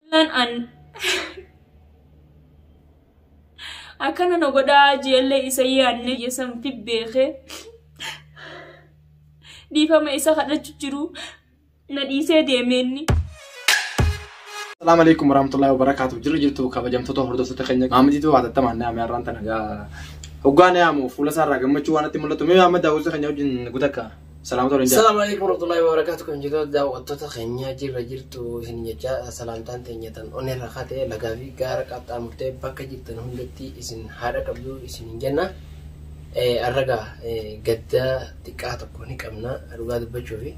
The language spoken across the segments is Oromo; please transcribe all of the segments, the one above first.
Lan an akkana na godhaa jeellee isa yaadne yesamti beekee dhiifama isa kadhachu jiru na dhiisee deeme inni. Assalamu alaikum warahmatullahi wabarakatuh. Jirri jirtu kabajamtoota hordoftoota keenya maamitiitu hatattamaan naame har'aan tana gaa hoggaa naamu fuula isaarraa gammachuu waan itti mul'atu mee amma daawwisa keenya wajjin gutakka. Salaam ta'uu danda'a. Salaamu alaikum warahmatullahi wabarakatuh kan jirtu daawwattoota keenya jirra jirtu isin jecha salaamtaan teenya tan onneerra kate lagaa fi gaara qaxxaamurtee bakka jirtan hundatti isin haadha qabdu isin hin jenna. Eh, Arragaa eh, gaddaa xiqqaa tokko ni qabna dhugaa dubbachuu fi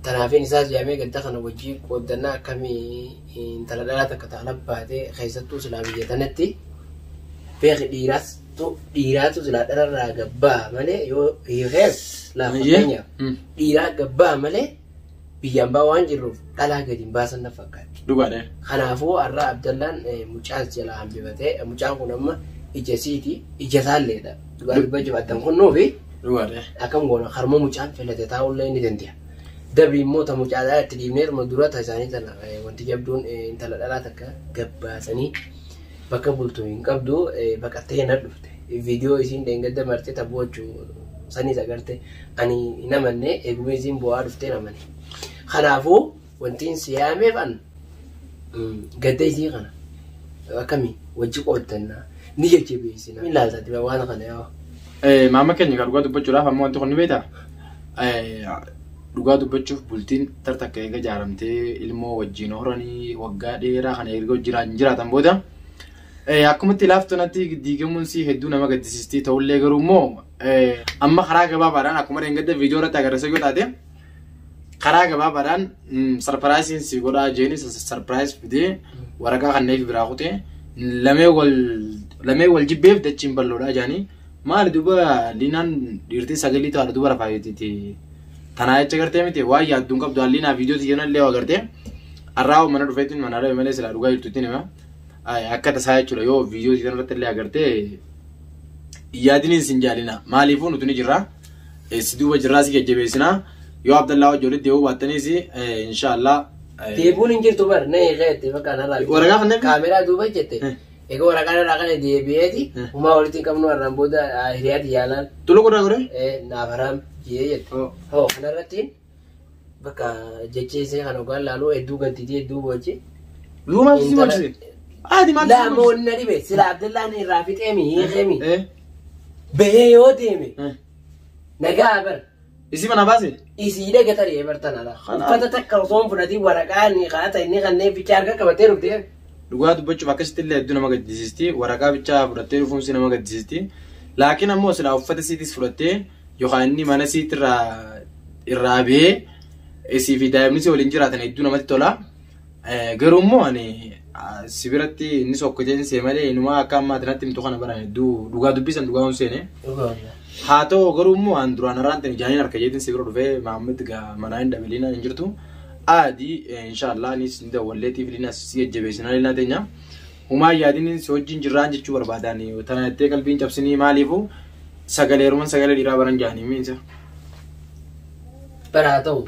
tanaafin isaas yaamee gadda kana wajjii qooddannaa akkamii intala dhalaa takka ta'a labbaate keessattuu silaa biyya tanatti beeki dhiiraas tu dhiiraatu silaa dhararraa gabbaa malee yoo hiikees laaf Eeyyee. fakkeenyaaf Mm. dhiiraa gabbaa malee biyyaan baa waan jirruuf dhalaa gadi hin baasan na fakkaatti. Dhugaadha. Kanaafuu har'a Abdallaan eh, mucaas jalaa hambifatee eh, mucaan kun amma ija isiiti ija isaalleedha. Dhugaa dubbaa jabaatan kunnuufi Dhugaadha. akkam goona harma mucaan filate taa'ullee ni danda'a. Dabri immoo ta mucaa dhalaa itti dhiibneeruma dura ta isaanii tana eh, wanti jabduun eh, intala dhalaa takka gabbaasanii Bakka bultu hin qabdu baqattee hin hadhufte video isiin dheengadda marte ta boochu saniis agarte ani hin amanne eeguma isiin boo'aa dhufteen amane kanaafu wantiin si yaameef an gadda isii kana akkami wajji qooddanna ni jajjabeessina ni laaltatti ba waan kana yoo Maama keenya kan dhugaa dubbachuudhaaf ammoo wanti kun ni beektaa? Dhugaa dubbachuuf bultiin tar takka eega jaaramtee ilmoo wajjiin horanii waggaa dheeraa kana erga wajjiraan jiraatan booda eh, akkumatti laaftu natti diigamuun si hedduu nama gaddisiistii ta'ullee garuu immoo eh, amma karaa gabaabaadhaan akkuma dheengadda viidiyoo irratti agarsiisa yoo taate karaa gabaabaadhaan mm, sarpiraayisiin si godhaa jeeni sarpiraayis fidee waraqaa kanneen biraa kutee lamee wal lamee wal jibbeef dachiin balloodhaa jaanii Maali duba Liinaan dhiirtiin sagalii ta'a duba rafaayititi. Tanaa jecha gartee miti waan yaadduun qabdu Liinaa viidiyoo tiyyoon illee waa gartee. Arraa mana dhufeetiin mana dhabe malee silaa dhugaa jirtuutti nima. Akka tasaa jechuudha yoo viidiyoo tiyyoon irratti illee agartee yaadiniin sin jaalina. Maaliifuu nuti ni jirra. Si duuba jirraa si jajjabeessina. Yoo Abdallaa wajji walitti deebi'uu baattaniis inshaallah. Deebuun hin jirtu bar na eegaa jettee bakka narraa. Waraqaa kan deebiin? Kaameraa duuba jette. Egaa waraqaan irraa kana deebi'eeti. Eh. Umaa walitti hin qabnu har'aan booda ah, hiriyaati yaalaan. Tuluu godhaa godhee? Eh, naaf haraam jee jette. Oh. Hoo kanarratti bakka jecha isee kan ogaan laaluu hedduu gadditi hedduu boochi. Luu maal si Intala- bochise? Haati maal si Laa bochise? moonna dhibe sila Abdallaan irraa fixeemi hiikemi. Eh, Bahee yoo deeme eh. nagaa bar Isi mana base. Isii dhaga tarii ebartan ala. Kana- Uffata takka osoo hin fudhatiin waraqaa ni kaata inni kanneen bichaa harka qabatee dhufte. Dhugaa dubbachuuf akkasitti illee hedduu nama gaddisiisti. Waraqaa bichaa fudhattee dhufuun si nama gaddisiisti. Laakiin ammoo silaa uffata siitis fudhattee yookaan inni mana siit irraa irraa ba'ee isii fi daa'imni si waliin jiraatan hedduu namatti tola. Garuu immoo ani si biratti inni sokkoteen see malee inumaa akka ammaa ati natti himtu kana bara hedduu dhugaa dubbisan dhugaa hin seene. Haa ta'u garuu immoo an duraan irraan ta'e jaaniin harka jeetiin si bira dhufee Maammed gaa manaa hin dhabeliina hin jirtu. Aadi inshaallah anis ni dawwalleetii filiina si jajjabeessinaa liinaa teenya. Humaa yaadiniin si wajjin jirraan jechuu barbaadaan tana jettee qalbiin cabsinii maaliifuu sagalee heeruman sagalee dhiiraa baran jaanii miinsa. Bara haa ta'u.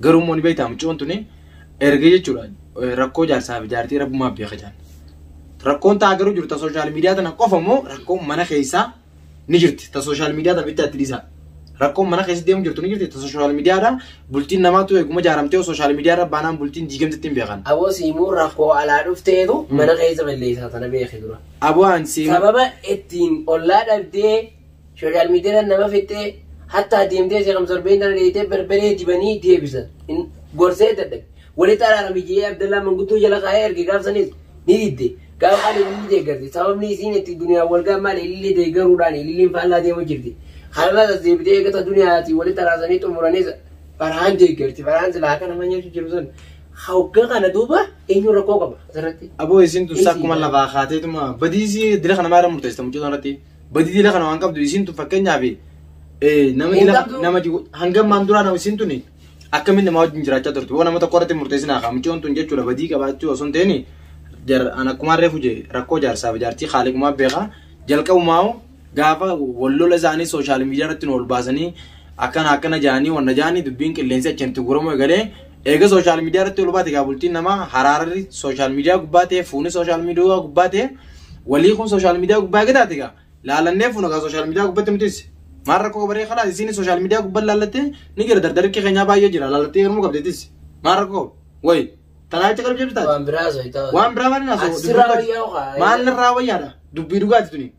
Garuu immoo ni beektaa muccoon tuni erga jechuudha rakkoo jaarsaa fi jaartii rabbumaa beeka jaan. Rakkoon ta'a garuu jiru ta sooshaal miidiyaa tana qofa immoo rakkoon mana keessaa ni jirti ta sooshaal miidiyaa tana bittaatti dhiisaa. Rakkoon mana keessa deemu jirtu ni jirti ta sooshaal miidiyaadha bultiin namaatu eeguma jaaramtee sooshaal miidiyaarra baanaan bultiin diigamtetti hin beekan. Aboo siimuun rakkoo alaa dhufteetu mana keessa balleessaa sana beeki dura. Aboo aan siimuu. Sababa ittiin ollaa dhabdee Social media nama fixee hattaa deemtee seeqam sorbee intala dheeytee berberee dibanii deebisan. In- Gorsee dadhabe. Walitti araarame jedhee Abdallaa manguddoo jala kaa'ee erge gaafsanis ni didde. Gaafa ani ililli deeggarti. Sababni isiin itti duniyaan wal ga'an maali ililli deeggaruudhaan ililliin faallaa deemu jirti. Kanarraas as deebitee eegata duniyaatii walitti araasanii xumuranis farhaan deeggarti. Farhaan silaa akka nama nyaachuu jiru sun. Hoggaa kana duuba eenyu rakkoo qaba asirratti. Aboo isin dursaa akkuma lafaa kaateetuma badiisii dira kana maara murteessita mucaa irratti. Badii dila kana waan qabdu isiin tun fakkeenyaaf eh, nama Hin dila qabdu. nama jigu- hangam maan duraa nama isiin tuni akkamiin namaa wajjin jiraachaa turte waan nama tokko irratti murteessinaa kaa mucoon tun jechuudha badii qabaachuu osoo hin ta'in jar an akkumaan reefu jee rakkoo jaarsaaf jaartii haaliqumaa beekaa jalqabumaa hoo gaafa wallola isaanii sooshaal miidiyaa irratti nu ol baasanii akkana akkana jaanii wanna jaanii dubbiin qilleensi achi hin tuguramu egalee Eega sooshaal miidiyaa irratti ol baate egaa bultiin namaa haraarri sooshaal miidiyaa gubbaa ta'e fuuni sooshaal miidiyaa gubbaa ta'e walii kun sooshaal miidiyaa gubbaa eega taate egaa laalannee fuuna egaa sooshaal miidiyaa gubbatti nutis maal rakkoo qabaree kalaas isiin sooshaal miidiyaa gubbaa laallattee ni jira dardarikki keenyaa baay'ee jira laallattee yeroo qabdeetis maal rakkoo wayi tanaa jecha qalbii jabdu taate waan biraa waan hin haasa'u maal irraa wayyaadha dubbii dhugaati tuni.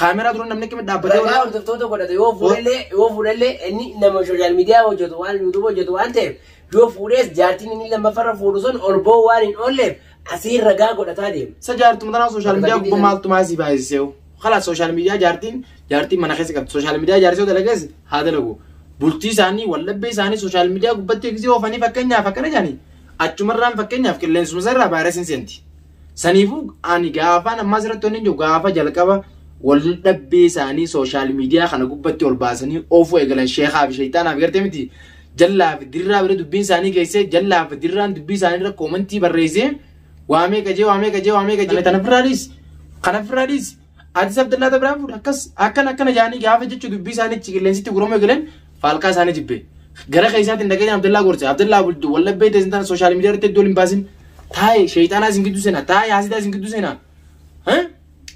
Kaameraa dura namni akkamitti dhaabbatee Ragaa wal- hordoftoota godhata yoo fuudhellee yoo fuudhellee inni nama sooshaal miidiyaa hojjetu waan yuutuuba hojjetu waan ta'eef yoo fuudhees jaartiin inni lammaffarra fuudhu sun ol ba'uu waan hin oolleef asii ragaa godhataa deema. Isa jaartuma tanaa sooshaal miidiyaa gubbaa maaltu maasii baay'iseewu. Kalaas sooshaal miidiyaa jaartiin jaartiin mana keessa qabdi. Sooshaal miidiyaa jaartii yoo dalagees haa dalagu. Bultii isaanii waldhabbee isaanii sooshaal miidiyaa gubbatti eegsisee oofanii fakkeenyaaf akkana jedhanii achumarraan fakkeenyaaf qilleensuma irraa vaayirasiin seenti. Saniifuu ani gaafaan ammaa asirratti wanni jiru gaafa jalqaba wal dhabbii isaanii sooshaal miidiyaa kana gubbatti ol baasanii oofuu eegalan sheekaa fi sheeyxaanaa fi gartee miti jallaa fi dirraa bira dubbiin isaanii geessee jallaa fi dirraan dubbii isaanii irra koomantii barreessee waamee qajee waamee qajee waamee qajee kana firraadhiis kana firraadhiis Atis Abdallaa ta biraan fuudhe akkas akkana akkana jaanii gaafa jechu dubbii isaaniitti qilleensitti gurama eegaleen faalkaa isaanii jibbe. Gara keessaatiin dhageenye Abdallaa gorse Abdallaa bultu wallabbee teessin tana sooshaal miidiyaa irratti iddoo hin baasin taa'e sheeyxaanaa isin gidduu seenaa taa'e haasidaa isin gidduu seenaa. Hah?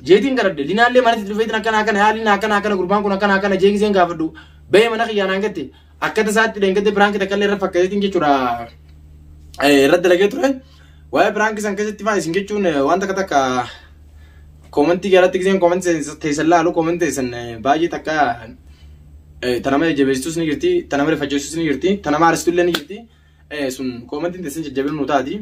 Jeetiin garadde linaallee manatti dhufeetiin akkana akkana yaa linaa akkana akkana gurbaan kun akkana akkana jeegiseen gaafadhu ba'ee mana kiyyaa naan gatte Akka tasaatti dheengadde piraanki takka illee irra fakkateetiin jechuudha irra dalagee ture. Waa'ee piraanki san keessatti fa'aa isin jechuun waan takka takka koomentii jalatti giseen koomentii teessan laalu koomentii teessan baay'ee takka tanama jajjabeessitus ni jirti, tanama rifachiisus ni jirti, tanama aarsitu illee ni jirti. sun koomantiin teessan jajjabina nu taati.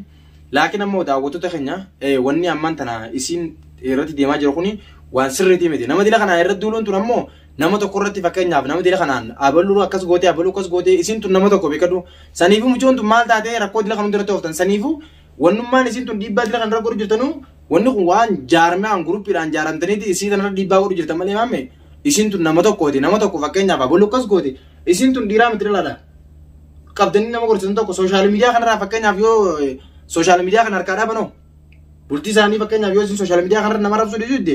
Laakiin ammoo daawwattoota keenya wanni ammaan tana isiin irratti deemaa jiru kuni waan sirriitii miti. Nama dila kanaan irratti duuluun tun ammoo nama tokko irratti fakkeenyaaf nama dila kanaan abaluu akkas gootee abaluu akkas gootee isiin tun nama tokko beekadhu. Saniifuu mucoon tun maal taatee rakkoo dila kan hundarratti ooftan saniifuu Wannummaan isiin tun dhiibbaa dila kanarra godhu jirtanuu wanni kun waan jaarmiyaan guruppiidhaan jaaramtaniiti isii kanarra dhiibbaa godhu jirtan malee maamme isiin tun nama tokkooti nama tokko fakkeenyaaf aboo lukkas gooti isiin tun dhiiraa miti dhalaadha. Qabdanii nama gorsitan tokko sooshaal miidiyaa kanarraa fakkeenyaaf yoo sooshaal miidiyaa kana harkaa dhaabanoo bultii isaanii fakkeenyaaf yoo isin sooshaal miidiyaa kanarra nama rabsuu didde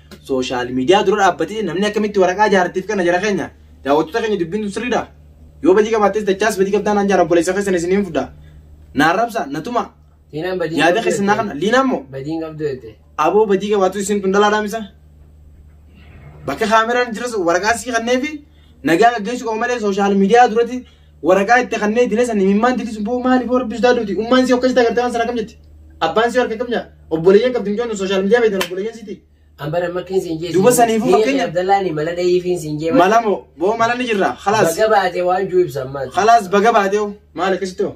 sooshaal miidiyaa dura dhaabbatee namni akkamitti waraqaa jaartiif kana jara keenya daawwattoota keenya dubbiin tun sirriidha. Yoo badii qabaattees dachaas badii qabdaan aan jaara obboleessa keessan isin hin fudhaa. Naan rabsa na tuma Liinaan badii yaada qabdu keessan naa jette. kana liinaa immoo Badii hin qabdu jette. aboo badii qabaatu isin tun dhalaa dhaamisa. Bakka kaameraan jiras waraqaa sii kannee fi nagaa gaggeessuu qabu malee sooshaal miidiyaa duratti Waraqaa itti kannee itti leessan imimmaan titisu boo maali boo rabbi sodaa duuti ummaan si akkasitti agartee waan sana kam jetti abbaan si harka kam nyaa obboleeyyan qabdi micoon sooshaal miidiyaa beektan obboleeyyan siiti An bara makkiin siin jeesu. Duuba saniifuu fakkeenya- Abdallaani mala dhahiifiin siin jeema. malamo boo mala ni jirra khalaas Baga baate waan juu ibsa ammaati. khalaas baga baatee hoo maali akkasitti hoo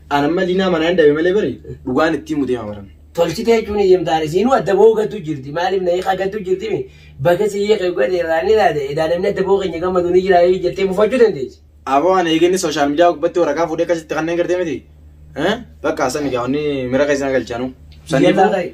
An amma linaa manaa hin dhabe malee bari dhugaan ittiin mutee hamaran. Tolchitee jechuun eeyyamtaan isiinuu adda bahuu gattuu jirti. Maaliif na hiikaa gattuu jirti mi? Bakka si hiika godhe irraa ni laata? Edaa namni adda bahuu keenya gammadu ni jira yoo jettee mufachuu dandeessi. Aboo ani eeginni sooshaal miidiyaa gubbatti waraqaa fuudhee akkasitti kanneen gartee miti. Bakka sani gaa'onni mira keessan galchaanu. Sanii Jennaan boo- ta'e.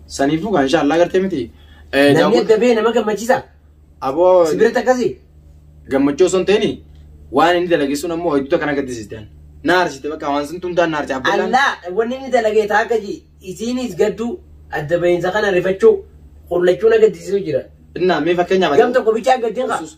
Saniifuu kan inshaa Allah gartee miti. Eh, Namni daawwat- adda ba'e nama gammachiisa. Aboo Si biratti akkasi. gammachuu osoo hin ta'ini waan inni dalage sun ammoo hedduu kana gaddisiistan. Na arsite bakka waan sun tumtaan na arse Abdallaan. Allah wanni inni dalagee taa akka ji isiinis gadduu adda ba'iinsa kana rifachuu qullachuu na gaddisiisu jira. Innaa mee fakkeenyaaf. Gam tokko bichaa gaddiin qaba. Yesuus.